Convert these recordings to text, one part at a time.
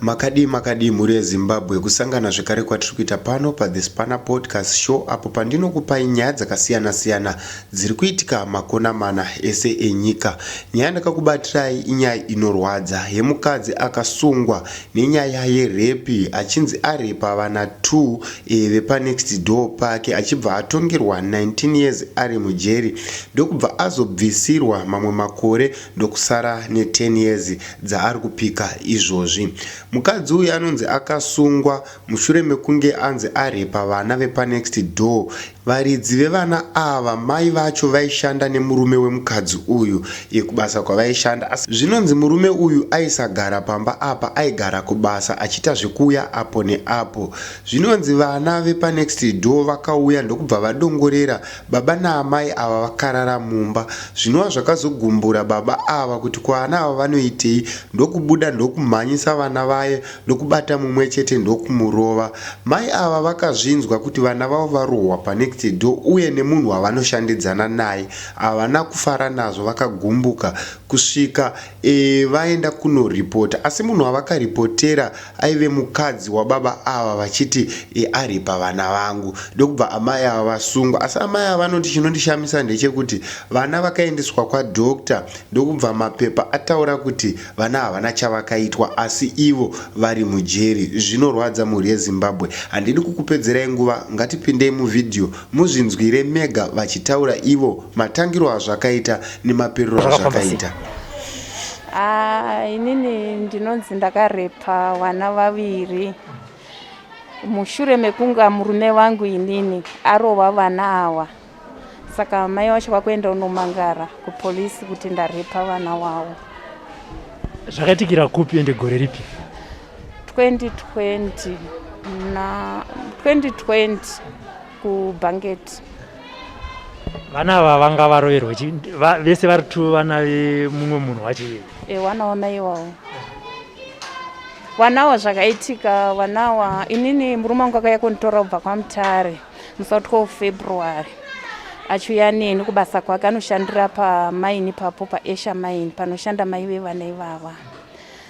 Makadii makadii mhuri yeZimbabwe kusangana zvekare kwatiri kuita pano paThe Spanner Podcast Show apo pandinokupai nyaya dzakasiyana siyana dziri kuitika makona mana ese enyika. Nyaya ndakakubatirai inyaya inorwadza yemukadzi akasungwa nenyaya yerepi achinzi arepa vana 2 e, vepanext door pake achibva atongerwa 19 years ari mujeri ndokubva azobvisirwa mamwe makore ndokusara ne 10 years dzaari kupika izvozvi. Mukadzi uyu anonzi akasungwa mushure mekunge anzi arepa vana vepanext door. Varidzi vevana ava mai vacho vaishanda nemurume wemukadzi uyu iyo kubasa kwavaishanda asi zvinonzi murume uyu aisagara pamba apa aigara kubasa achiita zvekuuya apo neapo. Zvinonzi vana vepanext door vakauya ndokubva vadongorera Baba naamai ava vakarara mumba zvinova zvakazogumbura baba ava kuti ko ana ava vanoitei ndokubuda ndokumhanyisa vana vaye ndokubata mumwe chete ndokumurova. Mai ava vakazvinzwa kuti vana vavo varohwa panext door uye nemunhu wavanoshandidzana naye. Havana kufara nazvo vakagumbuka kusvika vaenda kunoripota asi munhu wavakaripotera aive mukadzi wababa ava vachiti aripa vana vangu ndokubva amai ava vasungwa asi amai ava vanoti chinondishamisa ndechekuti vana vakaendeswa kwadoctor ndokubva mapepa ataura kuti vana havana chavakaitwa asi ivo vari mujeri zvinorwadza mhuri yezimbabwe handidi kukupedzerai nguva ngatipindei muvhidhiyo muzvinzwire mega vachitaura ivo matangiro azvakaita nemaperero azvakaita Ah, inini ndinonzi ndakarepa vana vaviri mushure mekunga murume vangu inini arova vana awa saka mai wacho vakuenda unomangara kupolisi kuti ndarepa vana wavo zvakaitikira kupi ende gore ripi 2020 na 2020 kubanket vana ava vanga varoverwa vese vari two vana vemumwe munhu wacho iye e, wanaona iwawo wanawa zvakaitika wanawa inini murume wangu akauya kunditora kubva kwamutare musa 12 february achiuya neni kubasa kwake anoshandira pamaini papo paesha maini panoshanda mai vevana ivava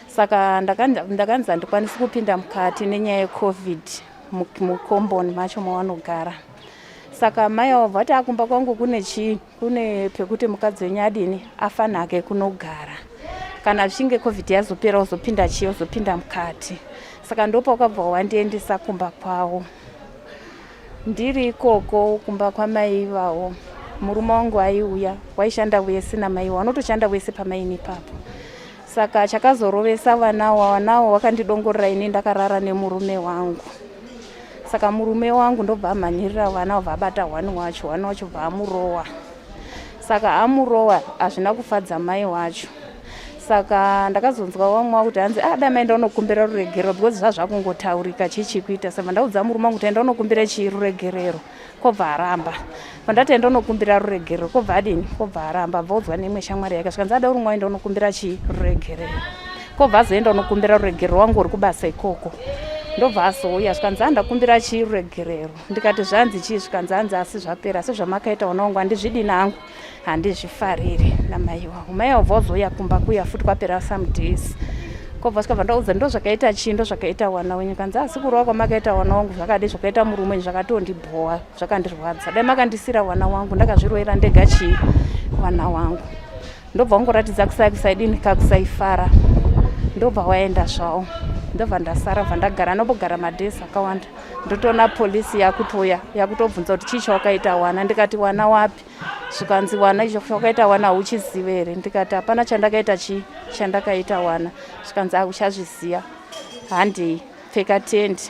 saka ndakanzi handikwanisi kupinda mukati nenyaya yecovid mukomboni macho mawanogara saka mai avo vati akumba kwangu kune chii kune pekuti mukadzi wenyu adini afanake kunogara kana zvichinge covid yazopera uzopinda chii uzopinda mukati saka ndopakabva wandiendesa kumba kwavo ndiri ikoko kumba kwamai ivavo murume wangu aiuya waishanda wese namaivo anotoshanda wese pamaini ipapo saka chakazorovesa vana wanawo wakandidongorera ini ndakarara nemurume wangu saka murume wangu ndobva amhanyirira vana obva abata one wacho one wacho bva amurowa saka amurowa hazvina kufadza mai wacho saka ndakazonzwa vamwe wakuti hanzi ah, da maenda unokumbira ruregerero because zvazvakungotaurika chii chikuita saka ndaudza murume wangu kuti enda unokumbira chii ruregerero kobva aramba pandati enda unokumbira ruregerero kobva adini kobva aramba abva udzwa neimwe shamwari yake zvikanzi ada uri mwaenda unokumbira chii ruregerero kobva azoenda unokumbira ruregerero wangu uri kubasa ikoko ndobva azouya zvikanzi andakumbira chii ruregerero ndikati zvanzi chii zvikanzi anzi asi zvapera asi zvamakaita ona wangu handizvidini hangu handizvifariri namaiwa umai wabva wazouya kumba kuya futi kwapera some days kobva sikabva ndaudza ndo zvakaita chii ndo zvakaita wana wenyu kanzi asi kurova kwamakaita wana wangu zvakadi zvakaita murume wenyu zvakatondibhowa zvakandirwadza dai makandisira wana wangu ndakazviroera ndega chii wana wangu ndobva wangoratidza kusai kusaidini kakusaifara ndobva waenda zvawo ndobva ndasara bva ndagara anombogara madhesi akawanda ndotoona polisi yakutouya yakutobvunza kuti chii chawakaita wana ndikati wana wapi zvikanzi wana icho chawakaita wana hauchizive here ndikati hapana chandakaita chii chandakaita wana zvikanzi akuchazviziva handei pfeka tendi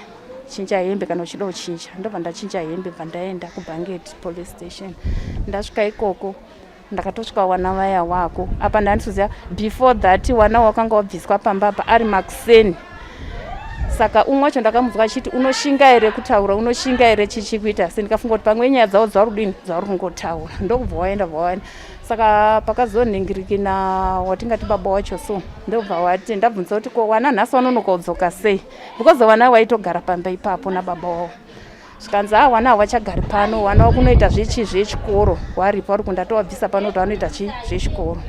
chinja hembe kana uchida kuchinja ndobva ndachinja hembe bva ndaenda kubhangeti police station ndasvika ikoko ndakatosvika wana vaya wako apa ndanditoziva before that wana wakanga wabviswa pamba apa ari makuseni saka umwe wacho ndakamudzwa achiti unoshinga here kutaura unoshinga here chichikuita se ndikafunga kuti pamwe nyaya dzavo dzauri kudini dzauri kungotaura ndokubva waenda bva waenda saka pakazonhingirikina watingati baba wacho so ndobva wati ndabvunza kuti ko wana nhasi wanonokaudzoka sei because wana waitogara pamba ipapo nababa wavo zvikanzi ha ah, wana havachagari pano wana wakunoita zvechi zvechikoro waripa uri kundatowabvisa pano kuti wanoita chi zvechikoro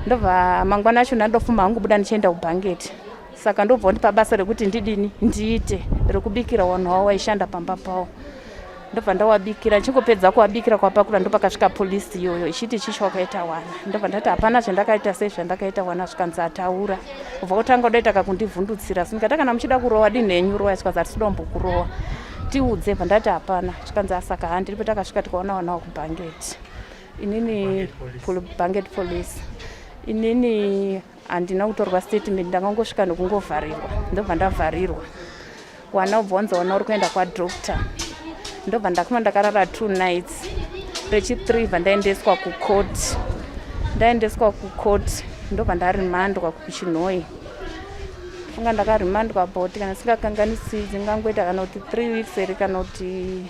ndobva mangwana acho ndandofuma hangu buda ndichienda kubhangeti saka ndobva ndipa basa rekuti ndidini ndiite rekubikira wanhu wavo waishanda pamba pavo ndobva ndawabikira ndichingopedza kuwabikira kwapakura ndopakasvika polisi iyoyo ichiti chichi wakaita wana ndobva ndati hapana zvandakaita sei zvandakaita wana zvikanzi ataura kubva kutanga kudaita kakundivhundutsira asi ndikati kana muchida kurowa dini henyu rowa zvikanzi hatisi dombo kurowa tiudze bva ndati hapana zvikanzi asaka ha ndiripo takasvika tikaona wanawo kubhangeti inini bhangeti police inini handina kutorwa statement ndangangosvika nekungovharirwa ndobva ndavharirwa wanobvonza ona uri kuenda kwadoctor ndobva ndakuma ndakarara two nights rechithree bva ndaendeswa kucourt ndaendeswa kucourt ndobva ndarimandwa kuchinhoi funga ndakarimandwa bot kana singakanganisi dzingangoita kana kuti three weeks here kana kuti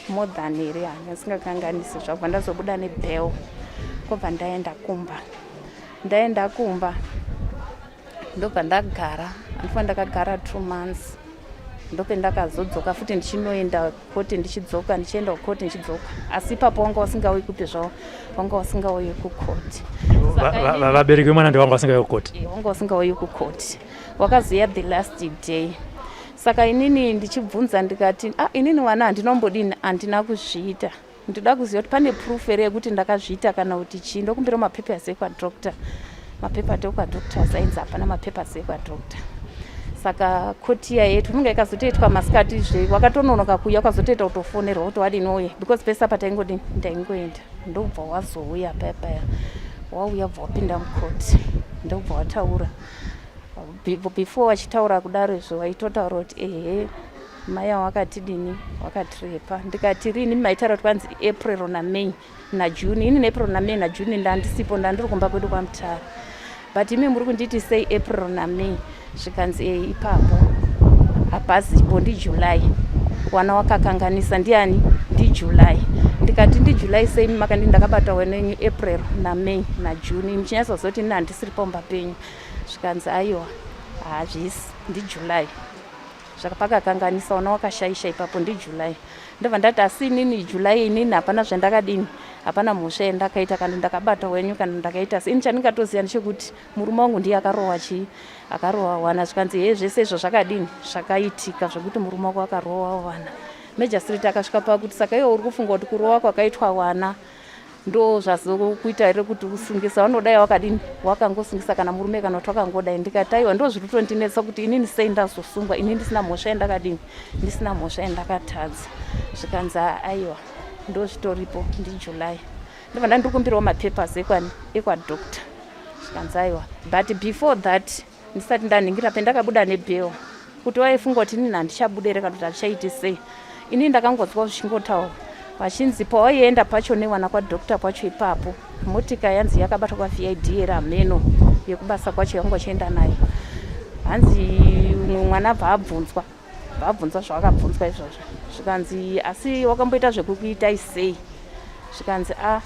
more than here hanga singakanganisi zvakubva ndazobuda nebel kobva ndaenda kumba ndaenda kumba ndobva ndagara andifa ndakagara two months ndope ndakazodzoka futi ndichinoenda koti ndichidzoka ndichienda kukoti ndichidzoka asi ipapo wanga wasingauyi kupi zvavo wanga wasingauyi kukoti vabereki vemwana ndi wanga wasingauyi kukoti eh, wanga wasingauyi kukoti wakazoya the last day saka inini ndichibvunza ndikati ah, inini mwana handinombodini handina kuzviita ndoda kuziva kuti pane proof here yekuti ndakazviita kana kuti chii ndokumbira mapapers ekwadoctor mapaper ati ekwadoctor asainzi hapana mapapers ekwadoctor saka kotiya yetu inonga ikazotoitwa masikati zve wakatononoka kuuya ukazotoita kutofonerwa kuti wadini wauya because pese apa taingodini ndaingoenda ndokubva wazouya paya paya wauya bva wapinda mukoti ndokubva wataura before wachitaura kudaro izvo waitotaura kuti ehe mai avo vakatidini vakatirepa ndikati rini maitaura kuti kwanzi april namay najune ini neapril namay najune ndandisipo ndandiri kumba kwedu kwamutara but imi muri kunditi sei april namay zvikanzi e ipapo hapazipo ndijuly wana wakakanganisa ndiani ndijuly ndikati ndijuly sei makandi ndakabata wena yenyu april namay najune imi chinyasazoti ini handisiri pamba penyu zvikanzi aiwa hazvisi ndijuly zvakapakakanganisa ona wakashaisha ipapo ndijuly ndobva ndati asi inini july inini hapana zvandakadini hapana mhosva yandakaita kana ndakabata wenyu kana ndakaita asi ini chandingatoziva ndechekuti murume wangu ndiye akarohwa chii akarohwa wana zvikanzi hee zvese izvo zvakadini zvakaitika zvekuti murume wako akarohwa wana majastrit akasvika pakuti saka iwo uri kufunga kuti kurohwa kwakaitwa wana ndo zvazokuita here kuti usungisa vanodai wakadini wakangosungisa kana murume kana kuti wakangodai ndikataiwa ndo zviri kutondinetsa kuti inini sei ndazosungwa ini ndisina mhosva yandakadini ndisina mhosva yandakatadza zvikanzi aiwa ndo zvitoripo ndijuly ndobva ndandikumbirawo mapapers ekwani ekwadoctor zvikanzi aiwa but before that ndisati ndanhingira pendakabuda nebhero kuti waifunga kuti inini handichabude here kana kuti handichaiti sei inini ndakangonzwa zvichingotaura vachinzi pawaienda pacho newana kwadoctor kwacho ipapo motika yanzi yakabatwa kwavid here hameno yekubasa kwacho yanga uchienda nayo hanzi umwe mwana abva abvunzwa vabvunzwa zvavakabvunzwa izvozvo zvikanzi asi wakamboita zvekukuitai sei zvikanzi a ah,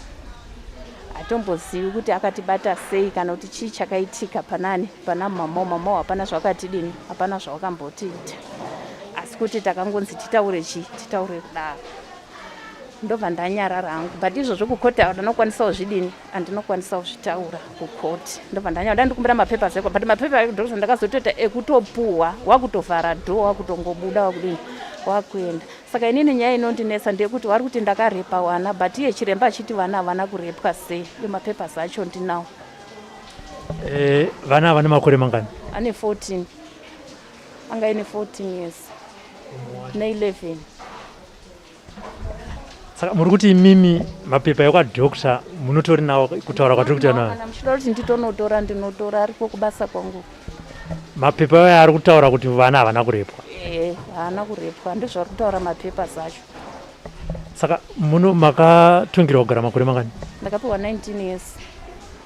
hatombozivi kuti akatibata sei kana kuti chii chakaitika panani pana mamao mamao hapana zvakatidini hapana zvawakambotiita asi kuti takangonzi titaure chii titaure kudaro ndobva ndanyarara hangu but izvozvo kukota ndanokwanisawo zvidini andinokwanisa kuzvitaura kukoti ndobva ndanyara dandikumbira mapepa zeko but mapepa ekudhokuta ndakazotoita ekutopuhwa wakutovhara dho wakutongobuda wakudini wakuenda saka inini nyaya inondinetsa ndeyekuti wari kuti ndakarepa wana but iye chiremba achiti vana havana kurepwa sei iyo mapepa zacho ndinawo eh, vana havane makore mangani ane 14 anga ine 14 years ne 11 saka muri kuti imimi mapepa ekwadoctor munotori nawo kutaura kwatiri kuita nawo kana muchida kuti nditonotora ndinotora ariko kubasa kwangu mapepa ayo ari kutaura kuti vana havana kurepwa ee haana kurepwa ndizvari kutaura mapepa zacho saka muno makatungirwa kugara makore mangani ndakapiwa 19 years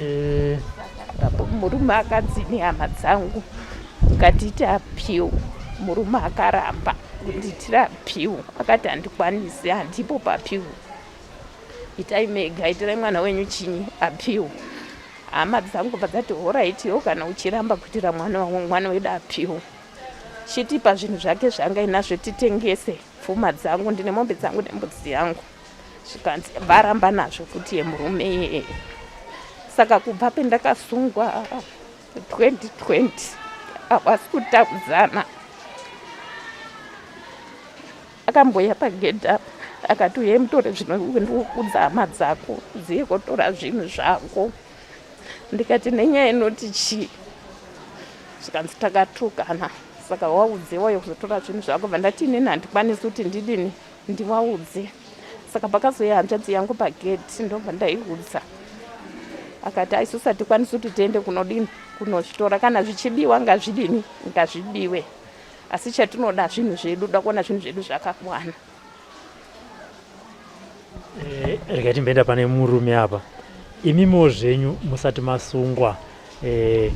Eh, apo murume akanzi nehama dzangu ngatiite appeal murume akaramba kundiitira appeal akati handikwanisi handipo paappeal itai mega itirai mwana wenyu chinyi appeal hama dzangu bva dzati horaiti yo kana uchiramba kuitira mwana wedu appeal chitipa zvinhu zvake zvanga inazvo titengese pfuma dzangu ndine mombe dzangu nembudzi yangu zvikanzi varamba nazvo kuti yemurume iyeye saka kubva pendakasungwa 2020 havasi kutakudzana akamboya pagedha akati uye mutore zvino ndikukudza hama dzako dziye kotora zvinhu zvako ndikati nenyaya inoti chii zvikanzi takatukana saka waudze wauye kuzotora zvinhu zvako bva ndati inini handikwanisi kuti ndidini ndiwaudze saka pakazoya hanzvadzi yangu pageti ndobva ndaiudza akati aisu satikwanisi kuti tiende kunodini kunozvitora kana zvichibiwa ngazvidini ngazvibiwe asi chatinoda zvinhu zvedu da kuona zvinhu zvedu zvakakwana Eh, rega timbenda pane murume apa imimiwo zvenyu musati masungwa eh,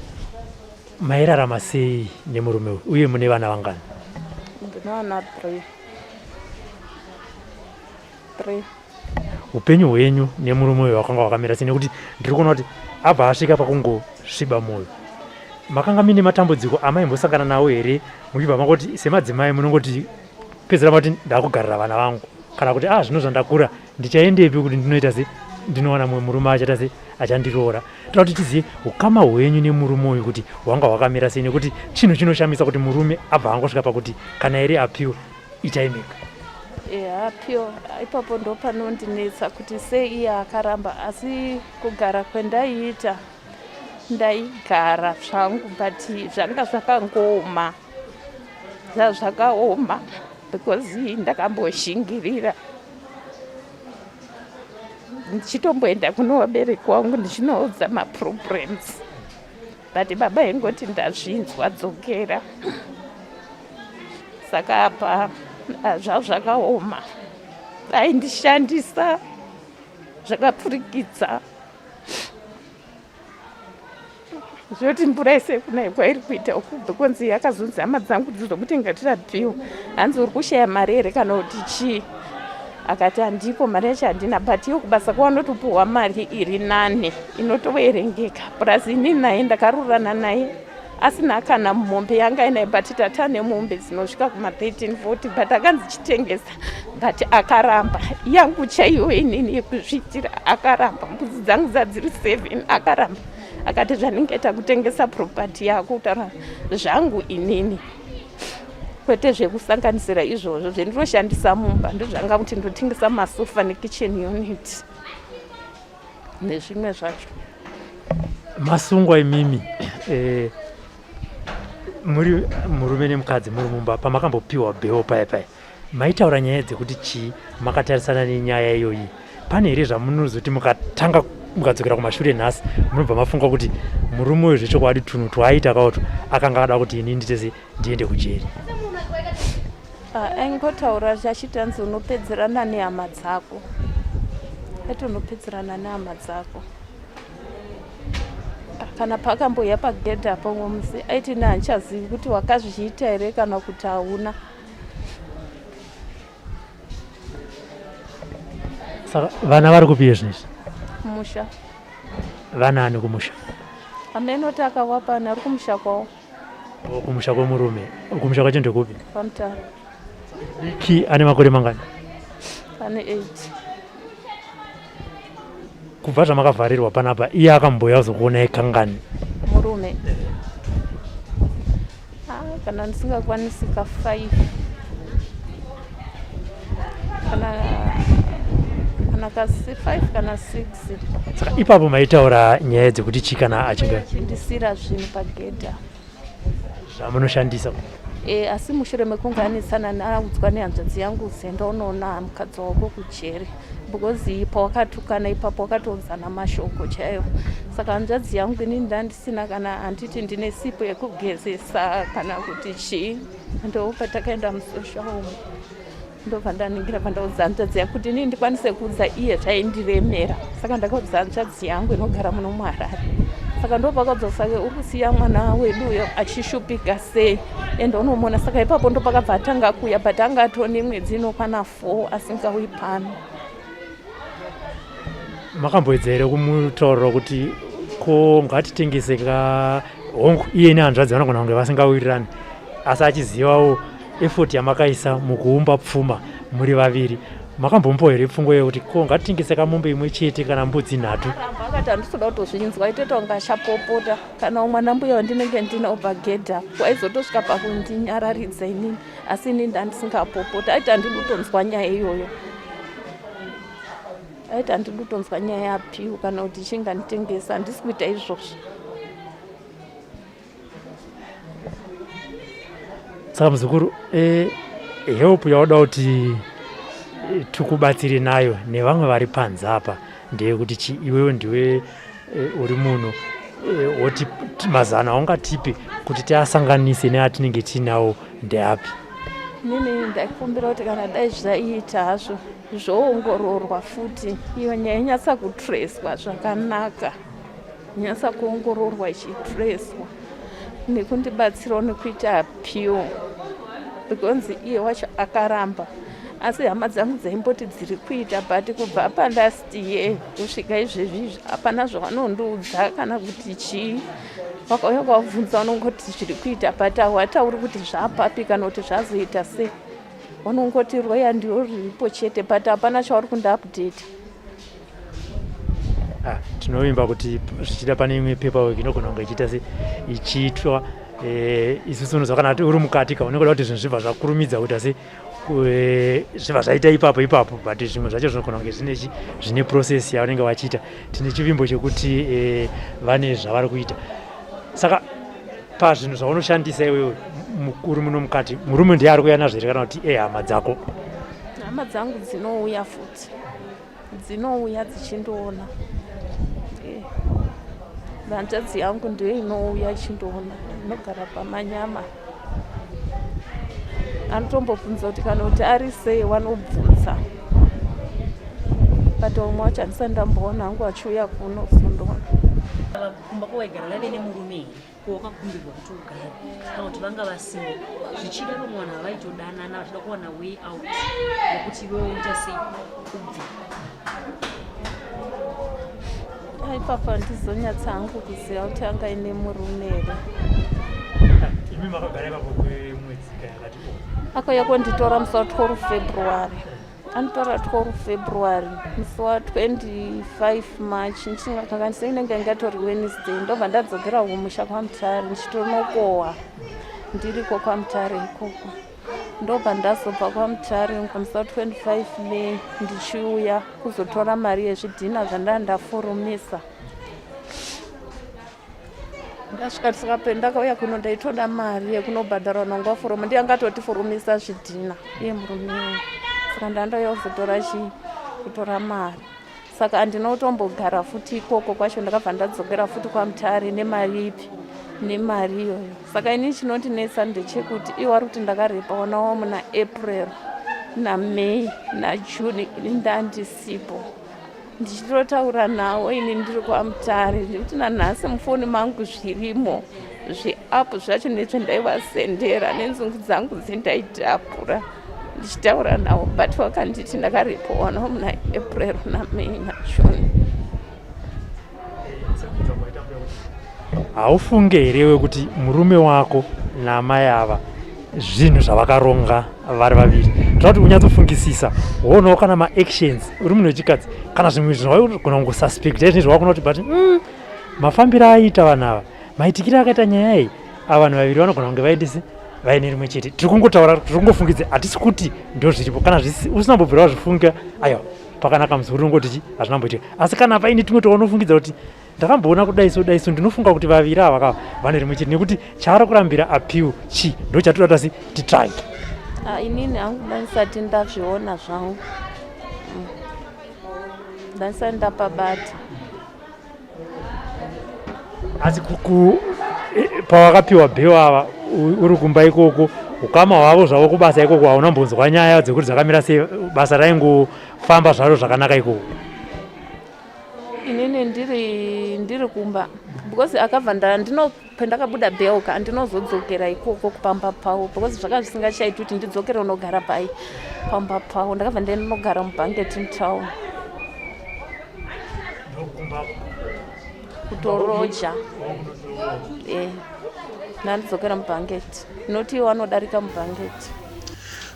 mairarama sei nemurume uyu uye mune vana vangani ndinoona three three upenyu hwenyu nemurume uyu wakanga wakamira sei nekuti ndiri kuona kuti abva asvika pakungosviba mwoyo makanga mine matambudziko amaimbosangana nawo here muchibva makoti semadzimai munongoti pedzera mati ndakugarira vana vangu kana kuti ah zvino zvandakura ndichaendepi kuti ndinoita sei ndinowana mumwe murume achaita sei achandiroora toda kuti tizive ukama hwenyu nemurume uyu kuti hwanga hwakamira sei nekuti chinhu chinoshamisa kuti murume abva angosvika pakuti kana here apiwe ichaimika hapyo ipapo ndo panondinetsa kuti sei iye akaramba asi kugara kwendaiita ndaigara zvangu but zvanga zvakangooma zvazvakaoma because ndakamboshingirira ndichitomboenda kuno vabereki wangu ndichinoudza maproblems but baba ingoti ndazvinzwa dzokera saka apa ah, zvavo zvakaoma aindishandisa zvakapfurikidza zvoti mvura yese kunaya kwairi kuita ukubva kwanzi yakazunza hama dzangu dzizo kuti ngatira bhiwa hanzi uri kushaya mari here kana kuti chii akati handipo mari yacho handina but iyo kubasa kwavanotopuhwa mari iri nane inotoverengeka plus ini naye ndakarurana naye asina kana mombe yanga inaye but tata nemombe dzinosvika kuma 13 40 but akanzi chitengesa but akaramba yangu chaiyo inini yekuzviitira akaramba mbudzi dzangu dzadziri seven akaramba akati zvandingaita kutengesa property yako kutaura zvangu inini kwete zvekusanganisira izvozvo zvendinoshandisa mumba ndozvanga kuti ndotengesa masofa nekitchen unit nezvimwe zvacho masungwa imimi eh, muri murume nemukadzi muri mumba pamakambopiwa bheo paya paya maitaura nyaya dzekuti chii makatarisana nenyaya iyoyi pane here zvamunozoti mukatanga mukadzokera kumashure nhasi munobva mafunga kuti murume uyo zvechokwadi tunhu twaaita kaoto akanga ada kuti ini nditese ndiende kujeri ah, aingotaura achiti hanzi unopedzerana nehama dzako ati unopedzerana nehama dzako ah, kana paakamboya pagedhe apo umwe musi aiti ne handichazivi kuti wakazviita here kana kuti hauna saka vana vari kupiye zvinhu izvi musha vanaani kumusha amene oti akawapani ari kumusha kwavo kumusha kwemurume kumusha kwacho ndekupi pamutaro diki ane makore mangani ane 8 kubva zvamakavharirwa panapa iye akamboya kuzokuonai kangani murume ah, kana ndisingakwanisi ka 5 saka ipapo maitaura nyaya dzekuti chi kana achingachindisira zvinhu pagedha zvamunoshandisa e, asi mushure mekunge anetsana naudzwa nehanzvadzi yangu zenda unoona mukadzi wako kujeri because pawakatukana ipapo wakatounzana mashoko chaiwo saka hanzvadzi yangu ini ndandisina kana handiti ndine sipo yekugezesa kana kuti chii ndobva takaenda musosha umu ndobva ndanhingira pandaudza hanzvadzi yangu kuti inini ndikwanise kuudza iye zvaindiremera saka ndakaudza hanzvadzi yangu inogara muno muharare saka ndopakabva sake uri kusiya mwana wedu uyo achishupika sei ende unomona saka ipapo ndopakabva atanga kuuya but anga atone mwedzi inokwana four asingauyi pano makamboedza here kumutaurira kuti ko ngatitengese ka hongu iye nehanzvadzi vanogona kunge vasingawirirani asi achizivawo efoti yamakaisa mukuumba pfuma muri vaviri makambombowa here pfungwa yekuti ko ngatitengese kamombe imwe chete kana mbudzi nhatu akati handisoda kutozvinzwa itoita kunge achapopota kana umwana mbuya wandinenge ndine obva gedha waizotosvika pakundinyararidza inini asi ini ndandisingapopoti aiti handidi kutonzwa nyaya iyoyo aiti handidi kutonzwa nyaya yapiwo kana kuti chinga nditengesa handisi kuita izvozvo saka muzukuru e, help yauda kuti tikubatsire nayo nevamwe vari panze apa ndeyekuti chi iwewe ndiwe e, uri muno eh, oti mazano aungatipi kuti tiasanganise neatinenge tiinawo ndeapi nini ndaikumbira kuti kana dai zvaiita hazvo zvoongororwa futi iyo nyaya inyatsa kutreswa zvakanaka inyatsa kuongororwa ichitreswa nekundibatsirawo nekuita appeal because iye wacho akaramba asi hama dzangu dzaimboti dziri kuita but kubva pandasi iye kusvika izvezvi hapana zvavanondiudza kana kuti chii vakauya kwavabvunza vanongoti zviri kuita but hawatauri kuti zvapapi kana kuti zvazoita sei vanongoti roya ndiro riripo chete but hapana chavari kundiupdata ah, tinovimba kuti zvichida pane imwe paperwork inogona kunge ichiita se ichiitwa eh, isusu unozwa kana uri mukati ka unenge uda kuti zvinhu zvibva zvakurumidza kuita se zviva zvaita ipapo ipapo but zvimwe zvacho zvinogona kunge zvine zvine process yavanenge vachiita tine chivimbo chekuti e, vane zvavari kuita saka pazvinhu zvaunoshandisa iwewe mukuru muno mukati murume ndiye ari kuya nazvo here kana kuti ehama dzako hama dzangu dzinouya futi dzinouya dzichindoona eh, hanzvadzi yangu ndiyo inouya ichindoona inogara pamanyama anotombobvunza kuti kana kuti ari sei wanobvunza but umwe wacho handisati ndamboona hangu achiuya kuno kuzondoona kumba kwawaigara lave nemurume here ko wakakumbirwa kuti ugare kana kuti vanga vasimo zvichida vamwe vanhu havaitodanana vachida kuwana way out yekuti iwe uita sei ubve ipapa ndizonyatsa hangu kuziva kuti anga ine murume here imi makagara ipapo kwemwedzi kayakati akauya konditora musi wa 12 february anotaura 12 february musi wa 25 march ndichikanganisa inenge yange yatori wednesday ndobva ndadzokera kumusha kwamutare ndichitonokohwa ndiriko kwamutare ikoko ndobva ndazobva kwamutare musi wa 25 may ndichiuya kuzotora mari yezvidhina zvandanda ndafurumisa ndasvika tisikape ndakauya kuno ndaitoda mari yekunobhadhara nongwa foromu ndiye angatoti foromisa zvidhina iye murume saka ndandoya kuzotora chii kutora mari saka handinotombogara futi ikoko kwacho ndakabva ndadzokera futi kwamutare nemari ipi nemari iyoyo saka ini chinondinetsa ndechekuti iwo ari kuti ndakarepa wanawo muna april namay najune ini ndandisipo ndichitotaura nawo ini ndiri kwamutare ndikuti nanhasi mufoni mangu zvirimo zveapu zvacho nezve ndaivasendera nenzungu dzangu dzendaitapura ndichitaura nawo but wakanditi ndakaripowa no muna april namay najune Haufunge here iwe kuti murume wako naamai ava zvinhu zvavakaronga vari vaviri toda kuti unyatsofungisisa woonawo kana maactions uri munhu wechikadzi kana zvimwe zvinhu waigona kungosuspecta izvinhu zvawakona kuti but mm, mafambiro aiita vanhu ava maitikire akaita nyaya iyi ava vanhu vaviri vanogona kunge vaendese vaine rimwe chete tiri kungotaura tiri kungofungidze hatisi kuti ndo zviripo kana usina mbobvira wazvifunga aiwa pakanaka musi uri ungoti chi hazvina mboitika asi kana paine timwe toonofungidza kuti ndakamboona kudai so dai so ndinofunga kuti vaviri ava ka vane rimwe chete nekuti chaari kurambira appeal chi ndo chatiri kuti asi titry ah, inini hangu ndaisati ndazviona zvangu mm. ndaisati ndapabata asi kuku eh, pawakapiwa bheo ava uri kumba ikoko ukama hwavo zvavo kubasa ikoko hauna mbonzwa nyaya dzekuti dzakamira sei basa raingofamba zvaro zvakanaka ikoko inini ndiri ndiri kumba because akabva ndandino pandakabuda belka andinozodzokera ikoko kupamba pavo because zvakanga zvisingachaiti kuti ndidzokere unogara pai pamba pavo ndakabva ndinogara mubanketin town kutoroja e eh, ndandidzokera mubanket noti iwo anodarika mubanket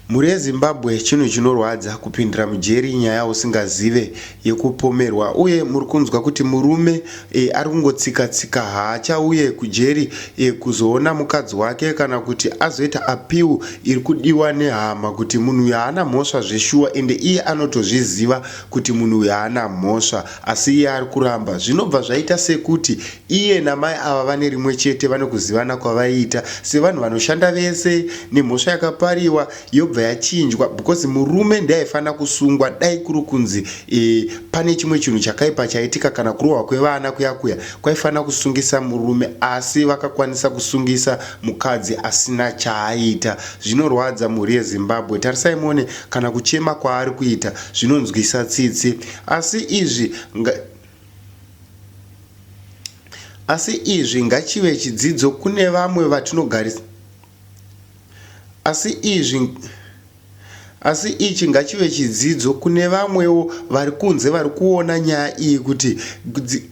Mhuri yeZimbabwe chinhu chinorwadza kupindira mujeri nyaya usingazive yekupomerwa uye muri kunzwa kuti murume e, ari kungotsika tsika haachauye kujeri e, kuzoona mukadzi wake kana kuti azoita apiwu iri kudiwa nehama kuti munhu uyu haana mhosva zveshuwa ende iye anotozviziva kuti munhu uyu haana mhosva asi iye ari kuramba zvinobva zvaita sekuti Iye namai ava vane rimwe chete vane kuzivana kwavaiita sevanhu vanoshanda vese nemhosva yakapariwa yobva yachinjwa because murume ndiye aifanira kusungwa dai kuri kunzi e, pane chimwe chinhu chakaipa chaitika kana kurohwa kwevana kuya kuya kwaifanira kusungisa murume asi vakakwanisa kusungisa mukadzi asina chaaiita zvinorwadza mhuri yezimbabwe tarisai muone kana kuchema kwaari kuita zvinonzwisa tsitsi asi izvi nga... Asi izvi ngachive chidzidzo kune vamwe vatinogarisa asi izvi asi ichi ngachive chidzidzo kune vamwewo vari kunze vari kuona nyaya iyi kuti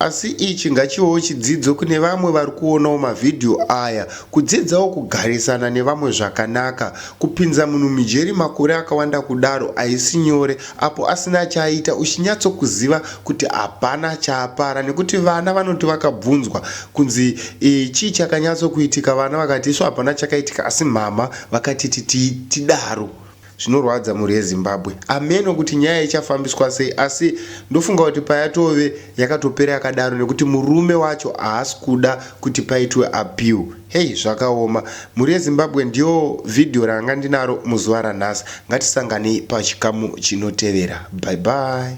Asi ichi ngachivewo chidzidzo kune vamwe vari kuonawo mavhidhiyo aya kudzidzawo kugarisana nevamwe zvakanaka. Kupinza munhu mujeri makore akawanda kudaro haisi nyore apo asina chaaita uchinyatsokuziva kuti hapana chaapara nekuti vana vanoti vakabvunzwa kunzi chii chakanyatsokuitika vana vakati isu hapana chakaitika asi mhamha vakatiti tidaro. Zvinorwadza mhuri yeZimbabwe. Hameno kuti nyaya ichafambiswa sei asi ndofunga kuti payatove yakatopera yakadaro nekuti murume wacho haasi kuda kuti paitwe appeal. Hey zvakaoma. Mhuri yeZimbabwe ndiyo video ranga ndinaro muzuva ranhasi. Ngatisanganei pachikamu chinotevera. Bye bye.